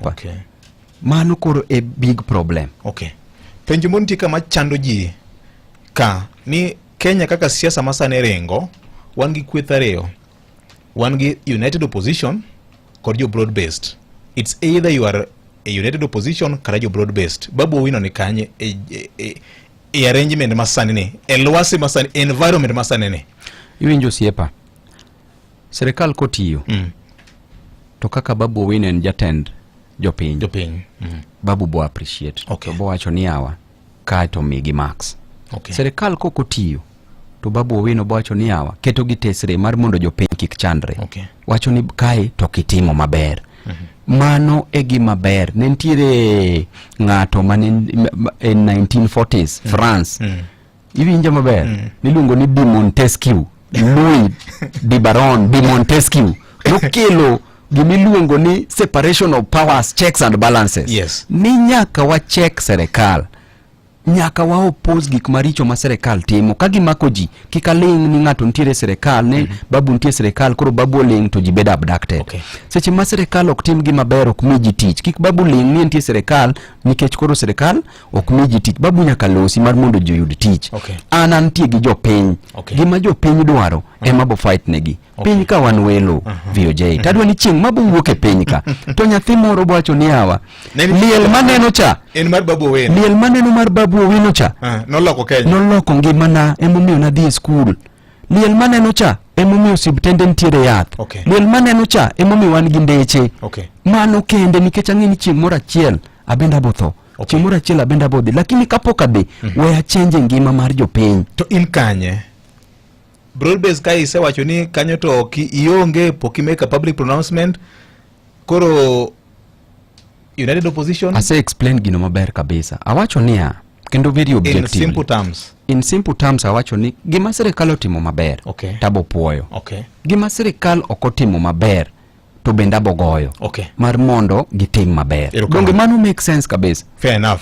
okay. mano koro e big problem okay. penjo moro nitie kama chando ji ka ni kenya kaka siasa masane ringo wan gi kweth ariyo wan gi united opposition kod jo broad based it's either you are a united opposition kata jo broad based babu owino ni kanye e, e, e, e arrangement masani ni e lwasi masani environment masani ni iwinjo osiepa Sirkal kotiyo mm. to kaka Babu Owino en jatend jopiny jopiny mm. Babu bo appreciate okay. to bowacho ni awa kae to migi marks okay. Sirkal kok otiyo to Babu Owino bowacho ni awa keto gi tesre mar mondo jopiny kik chandre okay. wacho ni kae to kitimo maber mm -hmm mano e gima ber ne nitiere ng'ato mane en 1940s mm. france mm. Iwinjo maber? Mm. Niluongo ni Di Montesquieu. Louis Di Baron Di Montesquieu. Nokelo gimiluongo ni separation of powers, checks and balances. Yes. Ni nyaka wa check serikal. Nyaka wa oppose gik maricho ma serikal timo. Ka gimako ji, kika ling ni ng'ato nitiere serikal, ne mm -hmm. babu nitiere serikal, koro babu ling to ji bedo abducted. Okay. Seche ma serikal ok tim gima ber ok mi ji tich. Kik babu ling ni nitiere serikal nikech koro serikal ok mi ji tich babu nyaka losi mar mondo ji oyud tich okay. an antie gi jopiny okay. gima jopiny dwaro uh -huh. ema bo fight negi okay. piny ka wan welo uh -huh. VOJ uh -huh. tadwa ni chieng' ma bowuok e piny ka to nyathi moro bwacho ni awa liel maneno cha en mar babu owino liel maneno mar babu owino cha uh, noloko Kenya noloko ngimana emomiyo nadhi e skul liel maneno cha emomiyo osiptende nitiere yath okay. liel maneno cha emomiyo wan gi ndeche okay. mano kende nikech ang'e ni chieng' moro achiel abende abotho okay. chieng' moro achiel abende abodhi lakini kapok adhi mm -hmm. we achenje ngima mar jopiny to in kanye broadbase ka isewacho ni kanyo to ionge pok imeka public pronouncement Koro United Opposition ase explain gino maber kabisa. Awacho niya kendo very objective. In simple terms. In simple terms awacho ni gima sirikal otimo maber okay. tabo puoyo. Okay. Gima sirikal ok otimo maber to bende abogoyo okay. mar mondo gitim maber. Donge mano make sense kabisa. Fair enough.